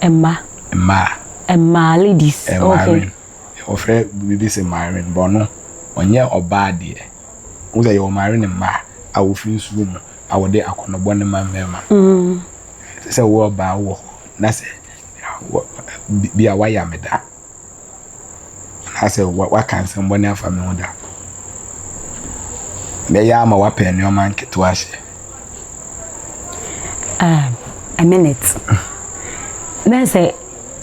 Mma. Mmaa. Mmaa ladies. Eh, okay. Wɔfrɛ biribi sɛ mmaarin bɔ no ɔnyɛ ɔbaa deɛ. Wo sɛ yɛwɔ mmaarin mmaa a wɔfiri nsuo mu a wɔde akɔnɔbɔ ne ma mmarima. Mm. Sɛ wowɔ ɔbaa wɔ hɔ na sɛ bi a wayɛ ameda anaasɛ waka nsɛm bɔne afa me ho da. Mɛyɛ ama wapɛ nneɛma nketewa hyɛ. Ah, a minute. Na sɛ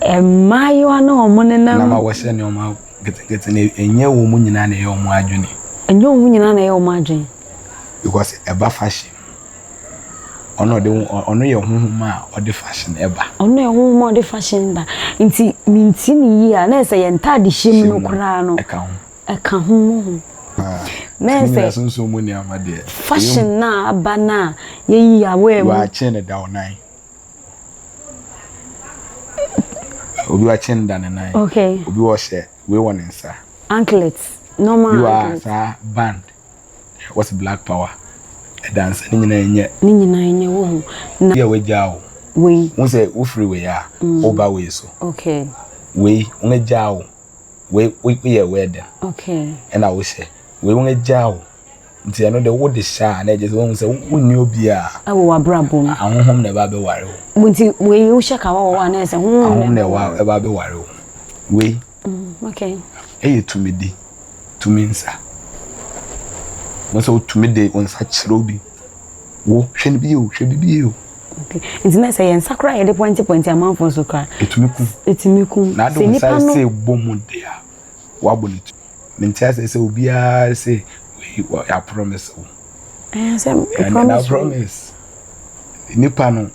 mmaayewa na wɔn nenam. Na ma wɔhyɛ nneɛma nketenkete na ɛnyɛ wɔn nyinaa na ɛyɛ wɔn adwene. Ɛnyɛ wɔn nyinaa na ɛyɛ wɔn adwene. Because ɛba fashion. Ɔno ɔde ɔno yɛ honhom a ɔde fashion ɛba. Ɔno yɛ honhom a ɔde fashion ba. Nti mi nti ni yie a na yɛ sɛ yɛn ntaade hyɛ mu no koraa no. Ɛka ho. Ɛka ho mu ho. Ah. Na yɛ sɛ. Sunsun mu nneɛma deɛ. Fashion na aba na yɛ yi aware mu. Wɔakye ne da ɔnan. Obi wakye ne da ne nan. Okay. Obi wɔhyɛ wei wɔ ne nsa. Anklet. Normal anklet. Bi wɔ a saa band. What's black power? Ɛda nsa ne nyinaa nyɛ. Ne nyinaa nyɛ wo ho na. Yɛ wagyaa wo. Wei. Wo sɛ wo firi wei a wo ba wei so. Okay. Wei wɔn agyaa wo. Wei wo yɛ wei ɛdɛn. Okay. Ɛna wo hyɛ wei wɔn agyaa wo. Nti ɛno de wo de hyɛ a na ɛgye sɛ wɔn sɛ wo nni obi a. Ɛwɔ wabra bom. Ahohom na ɛba bɛ ware wo. Mo nti wei wo hyɛ ka wɔ wɔ a na ɛsɛ ho. Ahohom na ɛwɔ ɛba bɛ ware wo. Wei. Mm, okay. Ɛyɛ tumidi, tumi nsa. Na sɛ wotumi de wo nsa kyerɛ obi, wo hwɛ no bi o, hwɛ bi bi o. Okay. Nti na sɛ yɛn nsa koraa yɛde pɔnkye pɔnkye amanfoɔ so koraa. Etumi kum. Etumi kum. Na adi wo nsa sɛ bɔ mu de a, wabɔ ne tu. Mente asɛ sɛ obiara sɛ yɛ promise wo. Ɛyɛ sɛ promise. Ɛna promise. Nipa no.